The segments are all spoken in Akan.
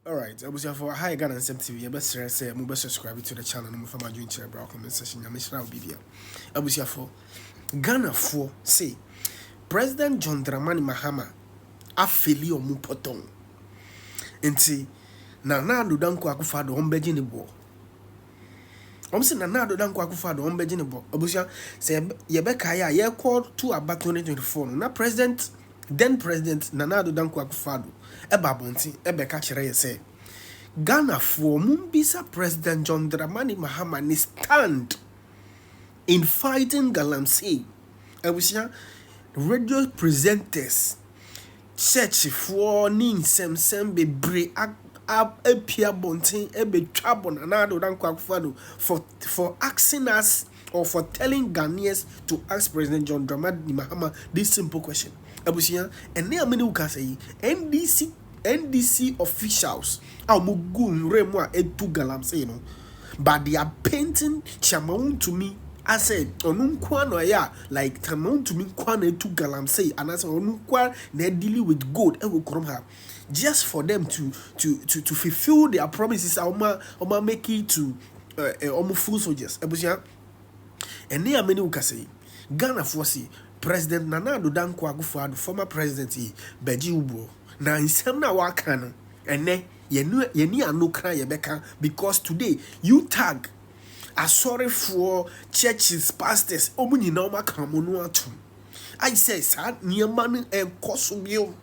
Alright abusuafo aha yɛ Ghana nsɛm TV yɛbɛsrɛ sɛ mo bɛ subscribe to the channel na mo fa mo adwene kyerɛ bra comment section nyame hyira obi bia abusuafo Ghana foɔ se President John Dramani Mahama afeli ɔmo pɔtɔn nti na na Addo Dankwa Akufo-Addo ɔmo bɛgye ne boɔ Wɔn se Nana Addo Dankwa Akufo-Addo wɔn bɛgye ne bɔ. Abusua, sɛ yɛbɛ yɛbɛkae a, yɛkɔ to aba 2024 no, na President, then President Nana Addo Dankwa Akufo-Addo ɛba abɔnten ɛbɛka kyerɛ yɛn sɛ, Ghanafoɔ, mombisa President John Dramani Mahama ne stand in fighting Galamsey. Abusua, radio presenters, Churchfoɔ ne nsɛmnsɛm bebree apue abɔnten bɛtwa abɔ Nana Addo Dankwa Akufo-Addo for for asking us or for telling Ghanaians to ask President John Dramani Mahama this simple question. Abusua, ɛnnɛ a me ne wo kasa yi, NDC NDC officials a wɔgu nwura mu a ɛtu galamsey no, but they are painting Chiama wontumi asɛ ɔno nkoa na ɔyɛ a like Chiama wontumi nkoa na etu galamsey anaasɛ ɔno nkoa na ɛdili with gold ɛwɔ kurom ha just for them to to to to fulfil their promises a wɔn a wɔn a make it to ɛɛ eh, wɔn full soldiers abusua ɛne a mene wo kasa yi Ghanafoɔ se President Nana Addo Dankwa Akufo-Addo former president yi bɛgye wo buo na nsɛm no a wɔaka no ɛnɛ Yɛne yɛne ano kra yɛbɛka because today you tag asɔrefoɔ churches pastors wɔn nyinaa wɔn aka wɔn ano atom ayi sɛ saa nneɛma no ɛnkɔ so bio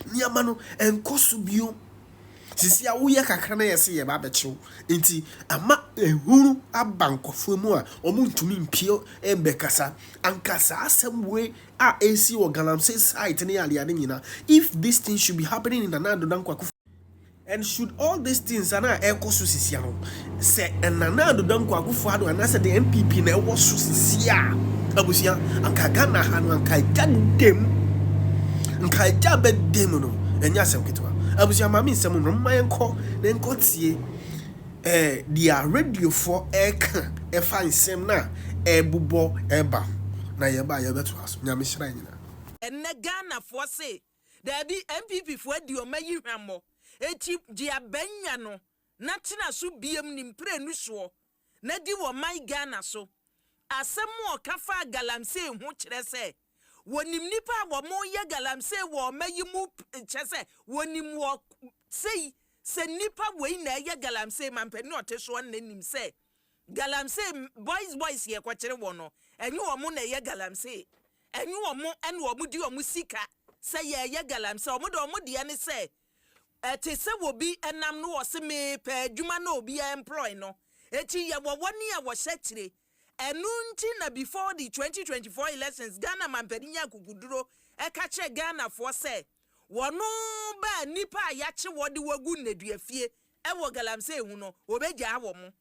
nneɛma no ɛnkɔ so bio sisi a woyɛ kakra na yɛsɛ yɛba abɛkyew nti ama ehunu aba nkɔfoɔ mu a wɔn ntumi mpie ɛmbɛkasa anka saa asɛm wei a ɛresi wɔ galamsey site ne adeade nyina if this thing should be happening in Nana Addo Dankwa Akufo and should all this things a na ɛrekɔ so sisia no sɛ Nana Addo Dankwa Akufo Addo anaasɛ the NPP na ɛwɔ so sisi a abusua anka Ghana ha no anka agya dem nka agya bɛ dem no ɛnyɛ asɛm ketewa abusua maame nsɛm no mma yɛnkɔ na yɛnkɔ tie eh, deɛ radiofoɔ reka ɛfa nsɛm no a ɛrebobɔ reba ho, na yɛba a yɛbɛtoa so. Nyame hyira yɛn nyinaa. Ɛnnɛ Ghanafoɔ se daabi NPP foɔ adi ɔma yi hwammɔ akyi gye aban nya no na tena so biam ne mprenu soɔ na di wɔ man Ghana so Asɛm a ɔka faa galamsey ho kyerɛ sɛ wɔnim nnipa a wɔyɛ galamsey wɔ ɔma yi mu, kyerɛ sɛ, wɔnim wɔ sei sɛ nnipa wei na ɛyɛ galamsey ma mpanin a ɔte soɔ no na nim sɛ galamsey boys boys yɛkɔkyere wɔn no, ɛnyɛ wɔn na ɛyɛ galamsey, ɛnyɛ wɔn na wɔdi wɔn sika sɛ yɛreyɛ galamsey, wɔn deɛ wɔn deɛ ne sɛ Ɛte sɛ wobi nam no ɔse mepɛ adwuma na obiaa employ no eti yɛwɔ wɔ nea wɔhyɛ kyire ɛno nti na before the twenty twenty four elections Ghana mampani nyaa akukuduro ɛka kyerɛ Ghana foɔ sɛ wɔno baa nipa a yakye wɔ de wɔ gu nnadua fie ɛwɔ galamsey ho no wɔbɛgyaa wɔn.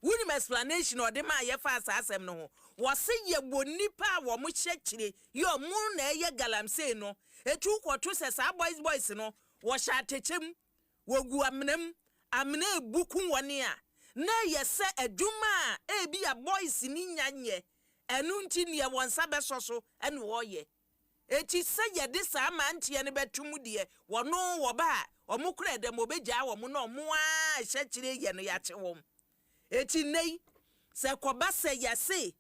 Wonim explanation a ɔde maa yɛfaa saa asɛm no ho? Wɔse yɛwɔ nnipa a wɔn hyɛ akyire yɛ wɔn na ɛyɛ galamsey no, eti wokɔto sɛ saa boys boys no wɔhyɛ atɛkyɛ mu, wɔgu amena mu, amena rebu ku wɔn a, na ɛyɛ sɛ adwuma a ebia boys no nya nyɛ, ɛno nti nea wɔn nsa bɛsɔ so na wɔreyɛ. Enti sɛ yɛde saa mmeranteɛ no bɛto mu deɛ, wɔn oo, wɔba a, wɔn koraa dɛm, wɔbɛgyaa wɔn na wɔn ara rehyɛ akyire yɛ no, yɛakye wɔn. Enti nnɛ yi, sɛ ɛkɔba sɛ yɛse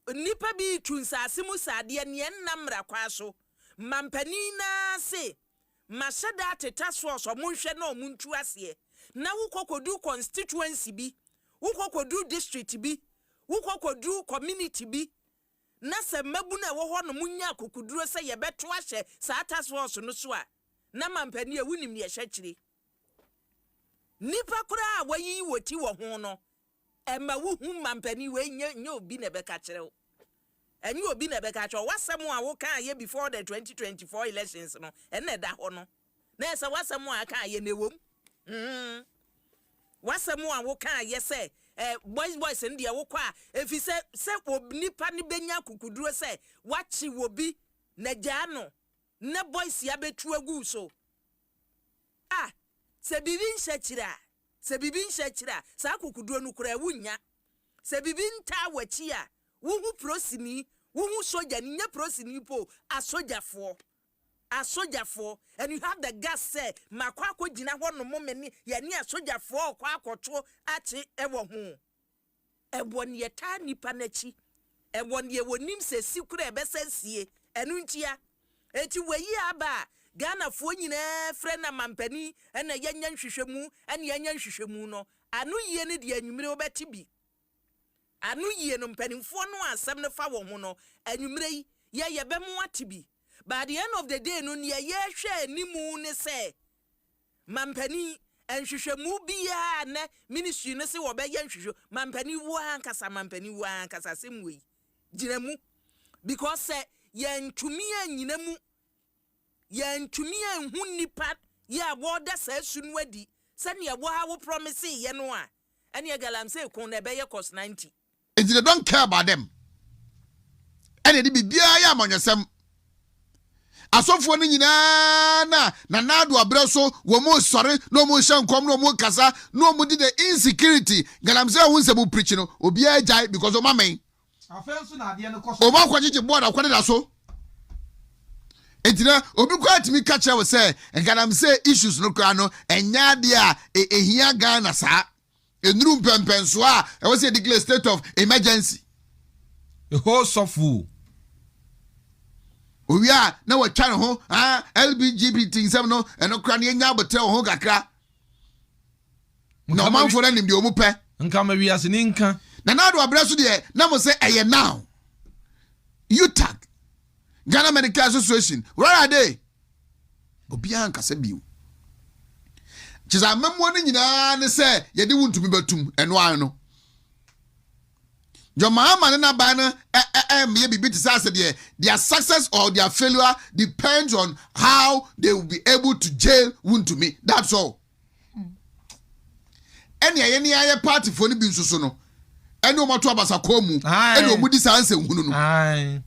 nnipa bi retu nsase mu saa deɛ, nea ɛnna mmara kwan so, mampanin no ara se, Mahyɛ da ateta source, wɔnhwɛ na wɔntu aseɛ, na wokɔ kɔduru constituency bi, wokɔ kɔduru district bi, wokɔ kɔduru community bi, na sɛ mmabun a ɛwɔ hɔ no nya akokoduru sɛ yɛbɛtow ahyɛ saa task force no so a, na mampanin a wonim nea ɛhyɛ akyiri. Nnipa koraa a wɔayiyi wɔn ti wɔ ho no, ɛma wohu mampanin wei nyɛ nyɛ obi na ɛbɛka kyerɛ wo. Ɛnyɛ obi na ɛbɛka kyerɛ wo. W'asɛm a wokaeɛ before the 2024 elections no, ɛna ɛda hɔ no. Na ɛsɛ w'asɛm a aka yɛ na ɛwɔ mu mm w'asɛm a wo kaa yɛ sɛ eh, boys boys no deɛ wo kɔ a ɛfiri sɛ sɛ ob nipa no bɛnya akukuduro sɛ wakye wɔ bi na gyaa no na boys ya bɛtu agu so a sɛ biribi nhyɛ akyire a sɛ biribi nhyɛ akyire a saa akukuduro no koraa wo nya sɛ biribi ntaa wakyi a wo ho prosini wo ho sogya no nyɛ prosini po asogyafoɔ Asogyafoɔ, and you have the guts sɛ makɔ akɔgyina hɔ nom me ne yɛne asogyafoɔ rekɔ akɔto akye ɛwɔ ho. Ɛwɔ ne yɛtaa nnipa no akyi, ɛwɔ ne yɛwɔ nim sɛ si koraa ɛbɛsa sie, ɛno ntia. Enti wei aba a Ghanafoɔ nyinaa frɛ no amampanin na yɛnyɛ nhwehwɛmu ne yɛnyɛ nhwehwɛmu no, ano yie no deɛ anwummere wobɛte bi. Ano yie no, mpanimfoɔ no a asɛm no fa wɔn ho no, anwummerɛ yi, yɛ yɛbɛ mo ate bi. By the end of the day no, neɛ yɛrehwɛ anim ne sɛ, mampanin, nhwehwɛmu biara a nnɛ ministry no se wɔbɛyɛ nhwehwɛ, mampanin wo ara ankasa, mampanin wo ara ankasa, asɛm wei, gyina mu. Because sɛ yɛntumi annyina mu yɛantumi anhu nnipa yi a wɔreda saa su no adi sɛnea wo ara wo promisee yɛn no a, ɛnneɛ galamsey ko na ɛbɛyɛ cos ninety. Nti they don't care about them ɛna ɛde biribiara yɛ amanyɔsɛm. Asɔfoɔ no nyinaa na Nana Addo abrɛ so, wɔn resɔre na wɔn rehyɛ nkɔm na wɔn rekasa na wɔn de the insecurity galamsey ho nsɛm preach no obiara gyae because wɔn amɛn Afei nso na adeɛ no kɔ so. Wɔn akɔgyegye board akɔde da so. Eti na obi koraa tumi ka kyerɛ wo sɛ galamsey issues no koraa no ɛnyɛ adeɛ a ehia Ghana saa. Nnuru mpɛmpɛnsoɔ a ɛwɔ sɛ yɛdeclare state of emergency. Ɛhoo sɔfoo. Owie a na wɔatwa ne ho ah, LBGBT nsɛm no ɛno koraa no yɛnya abotrɛ wɔ ho kakra. Nka na ɔmanfoɔ no anim deɛ ɔmu pɛ. Nka ma wiase ni nka. Na na adoa berɛ so deɛ na mo sɛ ɛyɛ now. UTAG, Ghana Medical Association, rara de obiara nkasa bio. Kyesɛ amammuo no nyinaa ne sɛ yɛde wo ntumi bɛtum ɛno ara no. John Mahama ne n'aban no ɛmmeyɛ biribi te sɛ asɛ deɛ their success or their failure depends on how they will be able to jail wo ntumi that's all. ɛnea yɛne ayɛ paatifoɔ no bi nso so no ɛne wɔn ato abasakɔɔ mu ɛne wɔn di saa nsɛnhunu no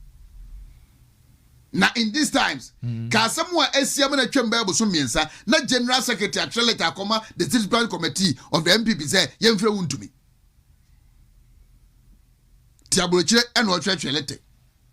na in these times mm. ka asɛm a asia mu na atwam bɛyɛ boso mmiɛnsa na general secretary atwerɛ leta akɔma the state branch committee of the mpp sɛ yɛmfrɛ wo ntumi ti aburokyire ɛna ɔtwerɛtwerɛ lete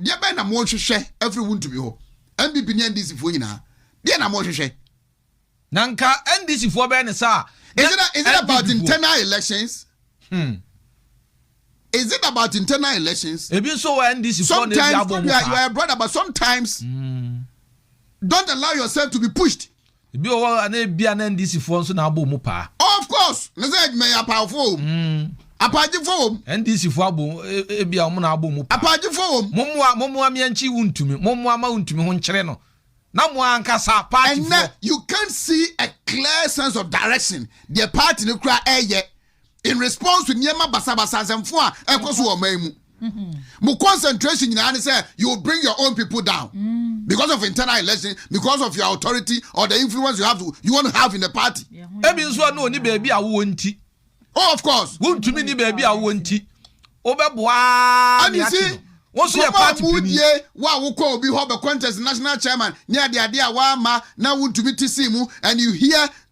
Deɛ bɛn na morehwehwɛ afiri wo ntumi hɔ? NPP ne NDC foɔ nyinaa, deɛ na morehwehwɛ? Na nka NDC foɔ bɛyɛ ne saa a, Is it, is it about internal elections? Hmm. Is it about internal elections? Ebi nso wɔ NDC foɔ na ebi abɔ mu paa. Sometimes, you are a brother, but sometimes, hmm. don't allow yourself to be pushed. Ebi wɔ hɔ a na ebia na NDC foɔ nso na abɔ ɔmu paa. Of course, ne sɛ adwuma yi apaawfoɔ wɔ mu, apaagyefoɔ wɔ mu. NDC foɔ abɔ ɔmu, ebia ɔmo na abɔ ɔmu paa. Apaagyefoɔ wɔ mu. Mommoa, mommoa me ankyi wontumi, mommoa mma wontumi ho nkyere no na mo ankasa party foɔ. Ɛnnɛ you can't see a clear sense of direction deɛ party no koraa ɛɛyɛ in response to nneɛma basabasa nsɛmfo a ɛkɔ so wɔ ɔman mu. Mm-hmm. Mo concentration nyinaa ne sɛ you bring your own people down mm. because of internal election, because of your authority or the influence you have to, you want to have in the party. Ebi nso a na oni baabi a wowɔ nti. Oh, of course. Wontumi ni baabi a wowɔ nti. Wobɛboa ne ate no. Wọ́n sọ yẹ party pini. Kọ́mọ́ àmúdìé wà wọ́kọ́ òbí họ́ bẹ̀ contest national chairman ní adìadìá wà á ma náà wọ́n tumi ti sí mu and you hear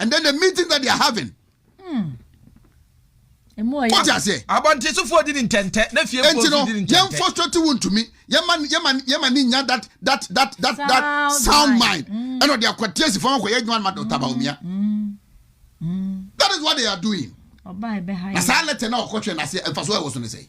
and then the meeting that they are having. Hmm. What I say? Abɔntesefoɔ di ni ntɛntɛ na fie nti no yɛn frustrate wo ntumi yɛma yɛma yɛma ni nya that that that that that sound mind mm. ɛna ɔde akɔ tiɛsi fɔn akɔ yɛ adwuma ma dɔkta baomia mm. mm. that is what they are doing. na saa lɛtɛ na ɔkɔtwɛ na se ɛfa so ɛwɔ so ne sɛ.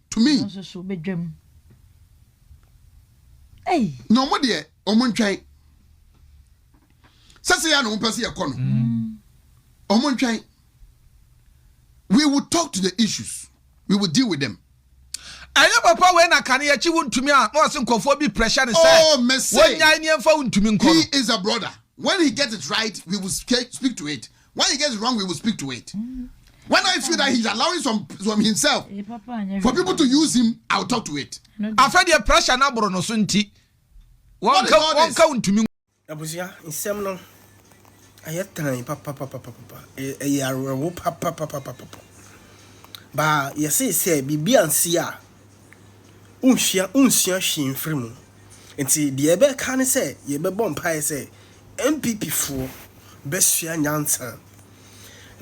tumi. Ɔno nso so bɛdwam. Ei! Na wɔn deɛ, wɔn ntwɛn. Sɛ sɛ yɛ na wɔn pɛ sɛ yɛkɔ no. Wɔn mm. ntwɛn. We will talk to the issues. We will deal with them. ɛnyɛ papa wei na kane yɛkyi wo ntumi a na ɔse nkɔfoɔ bi pressure ne sɛ oh, wɔnyae ne ɛmfa wo ntumi nkɔ no he is a brother when he get it right we will speak to it When he gets wrong, we will speak to it. When I feel that he's allowing some some himself for people to use him, I'll talk to it. Afɛ deɛ pressure na boro no so nti wɔnka wɔnka ntumi. Abusua nsɛm no ɛyɛ tan papapapapapa ɛyɛ awerɛho papapapapapa baa yɛse sɛ biribi ansi a wonsua wonsua hwee mfiri mu nti deɛ ɛbɛka ne sɛ yɛbɛbɔ mpaeɛ sɛ NPP foɔ bɛsua nyansa.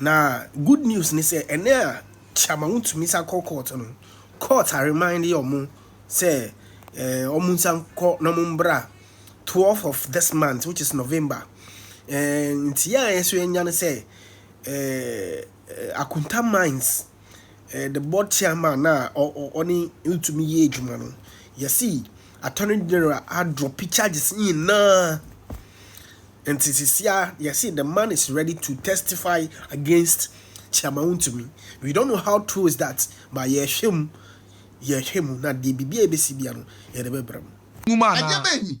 Na good news ne sɛ ɛnɛ a Kyama wo tumi sa kɔ court no, court a remind yɛ ɔmo sɛ eh, ɔmo nsa nkɔ na ɔmo mbra 12 of this month which is November. Eh, nti yɛ a yɛ nso yɛnya ne sɛ eh, eh, Akunta Mines eh, the board chairman na ɔne ntumi yɛ adwuma no yɛsi attorney general adrɔpi charges nyinaa nti sisia yɛsi the man is ready to testify against chairman ntumi we don't know how true is that but yɛhwɛ mu yɛhwɛ mu na deɛ biribi a ebesi bia no yɛde bɛbrɛ mu. Nwuma anaa? Ɛdeɛ bɛn ni?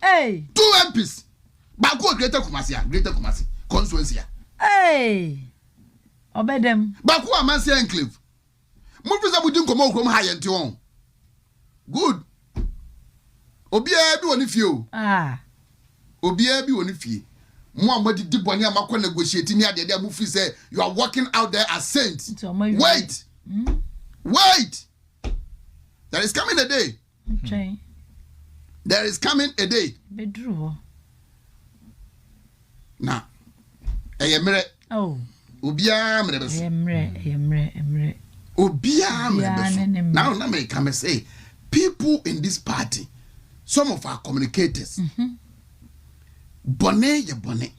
Hey. Two MPs. Baako wɔ Greater Kumasi a Greater Kumasi constituency a. Hey. Ɔbɛdɛm. Baako wɔ Amansia enclave. Mo fi sɛ mo di nkɔmɔ okurom ha yɛn ti wɔn. Good. Obiara bi wɔ ne fie o. Ah. Obiara bi wɔ ne fie. Mo a mo adidi bɔne a mo akɔ negotiate ne adeade a mo fi sɛ you are walking out there as saints. Wait. Hmm? Wait. There is coming a day. Ntwɛn. There is coming a day. Bɛduru hɔ. Na ɛyɛ mmerɛ. Oh. Obiara mmerɛ bɛso. Ɛyɛ mmerɛ, ɛyɛ mmerɛ, mmerɛ. Obiara mmerɛ bɛso. Now na mɛka mɛ sɛ people in this party some of our communicators. Mm -hmm. Bɔne yɛ bɔne.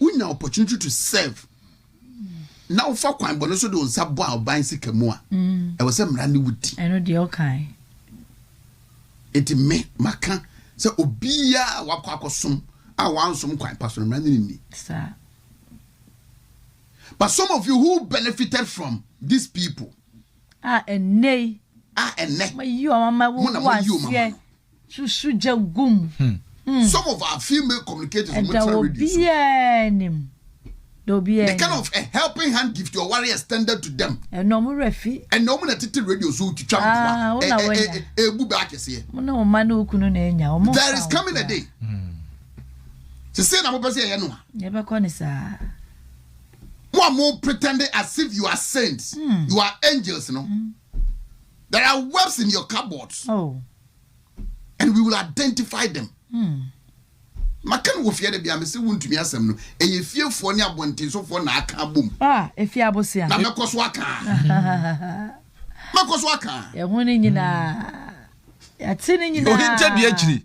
Wonya opportunity to serve. na wofa kwan bɔne so de wo nsa bɔ aban sika mu a, ɛwɔ sɛ mmara ne wo di. Ɛno deɛ ɔkae. Enti me, maka sɛ obiara a wakɔ akɔsom a wansom kwan pa so no, mmara ne no nni. Saa. But some of you who benefited from these people. A ɛnnɛ yi. A ɛnnɛ. Wɔayi wɔn ama, wɔagu aseɛ. susu gya gu mu. Some of our female communicators wɔn tena radio so. Ɛda obiara anim. Da obiara anim. The kind of a helping hand gift your warrior extended to them. Ɛna wɔn werɛ fi. Ɛna wɔn na tete radio so twitwa mpoa. Ah, wɔn na wɔn nya. Ebu bɛ akɛseɛ. Wɔn na wɔn ma ne okunu na enya. Wɔn fa. There is coming a day. Sisi na mo pɛ sɛ ɛyɛ no a. Yɛ bɛ kɔ ne saa. Mo a mo pretending as if you are saints, you are angels no. Mm. There are webs in your cupboards. Oh. And we will identify them. Hmm. maka no wɔ fie de bia mese wontumi asɛm no ɛyɛ fiefoɔ ne abɔntensofoɔ na aka abom ah, ɛfie abosea na mɛkɔ so aka mɛkɔ so aka ɛho no nyinaa yɛte no nyinaa ɔhintadua akyiri